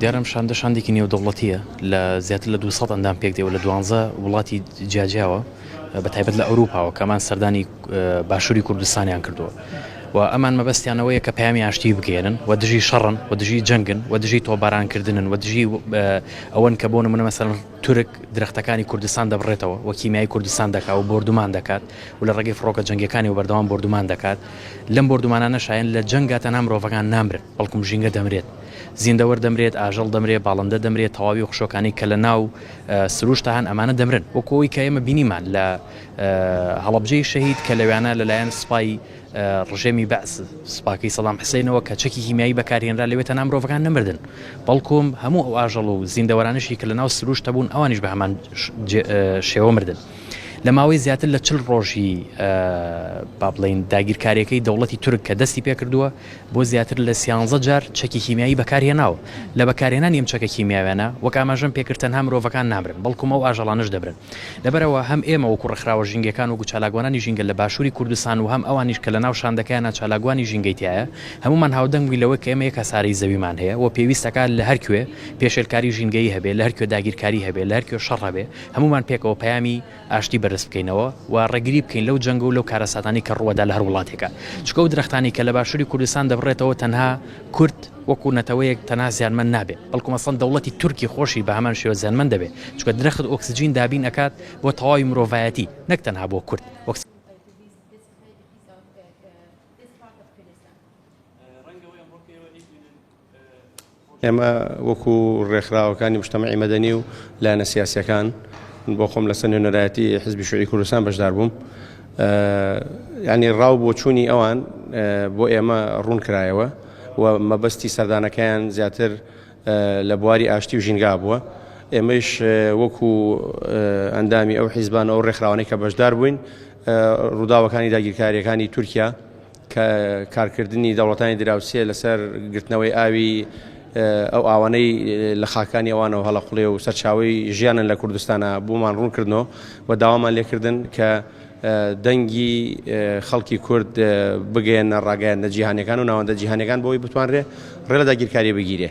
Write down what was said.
دیارە شاندە شاندێکی نێودەوڵەتیە لە زیاتر لە 200 ئەندام پێک دێەوە لە دوانزە وڵاتی جیاجیاوە بە تایبەت لە ئەوروپاوە کەمان سەردانی باشووری کوردستانیان کردووە و ئەمان مەبەستیانەوەیە کە پامی ئاشتی بگەێنن و دژی شەڕن و دژی جەنگن و دژی تۆبارانکردنن و دژی ئەوەن کە بۆ نمونە مەسەر تورک درەختەکانی کوردستان دەبڕێتەوە و کیمیایی کوردستان دەکا و بۆردومان دەکات و لە ڕێگەی فڕۆکە جەنگیەکانیەوە بەردەوام بۆردومان دەکات لەم بۆردومانانەشایەن لە جەنگا تەنها مرۆڤەکان نامرن بەڵکوم ژینگە دەمرێت زیندەوەر دەمرێت ئاژەڵ دەمرێت باڵندە دەمرێت تەواوی و خشۆکانی کە لە ناو سروشت هەن ئەمانە دەمرن وەکۆی کە ئێمە بینیمان لە هەڵەبجەی شەهید کە لەوانە لەلایەن سپای ڕژێمی بەعس سوپاکەی سەدام حسێنەوە کە چەکی کیمیایی بەکارهێنرا لەوێ تەنها مرۆڤەکان نەمردن بەڵکوم هەموو ئەو ئاژەڵ و زیندەوەرانشی کە لە ناو سروشتە بوون ئەوانیش بە هەمان شێوە مردن. لە ماوەی زیاتر لە چل ڕۆژی با بڵین داگیرکاریەکەی دەوڵەتی تورک کە دەستی پێکردووە بۆ زیاتر لە سیانزە جار چەکی کیمیایی بەکارهێناوە لە بەکارهێنانی ئەم چەکە کیمیاوێنە وەک ئاماژەم پێکرد تەنها مرۆڤەکان نامرن بەڵکومە و ئاژەڵانش دەبرن. لەبەرئەوە هەم ئێمە وەکو ڕێکخراوە ژینگەکان وەکو چالاکوانانی ژینگە لە باشوری کوردستان و هەم ئەوانیش کە لەناو شاندەکەیانە چالاکوانی ژینگەی تیایە هەموومان هاودەنگ بووین لەوەی کە ئێمە یەک هەسارەی زەویمان هەیە و پێویست ئەکات لە هەرکوێ پێشێلکاری ژینگەیی هەبێ لە هەرکوێ داگیرکاری هەبێ لە هەرکوێ شەڕ هەبێ هەموومان پێکەوە پەیامی ئاشتی بەرز بکەینەوە و ڕێگری بکەین لەو جەنگ و لەو کارەساتانەی کە ڕووەدا لە هەر وڵاتێکا چونکە ئەو درەختانەی کە لە باشوری کوردستان دەبڕێتەوە تەنها کورد وەکو نەتەوەیەک تەنها زیانمەند نابێت بەڵکو مەسەن دەوڵەتی تورکی خۆشی بەهەمان شێوە زیانمەند دەبێت چونکە درەخت ئۆکسجین دابین ئەکات بۆ تەواوی مرۆڤایەتی نەک تەنها بۆ کورد وەک ئێمە وەکو ڕێکخراوەکانی مشتەمەعی مەدەنی و لایەنە سیاسەکان بۆ خۆم لەسەر نوێنەرایەتی حزبی شوعی کوردستان بەشدار بووم یانی ڕاو بۆچوونی ئەوان بۆ ئێمە ڕوون کرایەوە و مەبەستی سەردانەکەیان زیاتر لە بواری ئاشتی و ژینگا بووە ئێمەش وەکو ئەندامی ئەو حیزبانەوە ڕێکخراوانەی کە بەشدار بووین ڕووداوەکانی داگیرکاریەکانی تورکیا کە کارکردنی دەوڵەتانی دراوسێ لەسەر گرتنەوەی ئاوی ئەو ئاوانەی لە خاکانی ئەوانەوە هەڵەقڵێ و سەرچاوی ژیانن لە کوردستانە بۆمان ڕوونکردنەوە و داوامان لێکردن کە دەنگی خەڵکی کورد بگەیەنە ڕاگەیاندنە جیهانەکان و ناوەندە جیهانەکان بۆی بتوانرێ ڕێ لە داگیرکاری بگیرێ.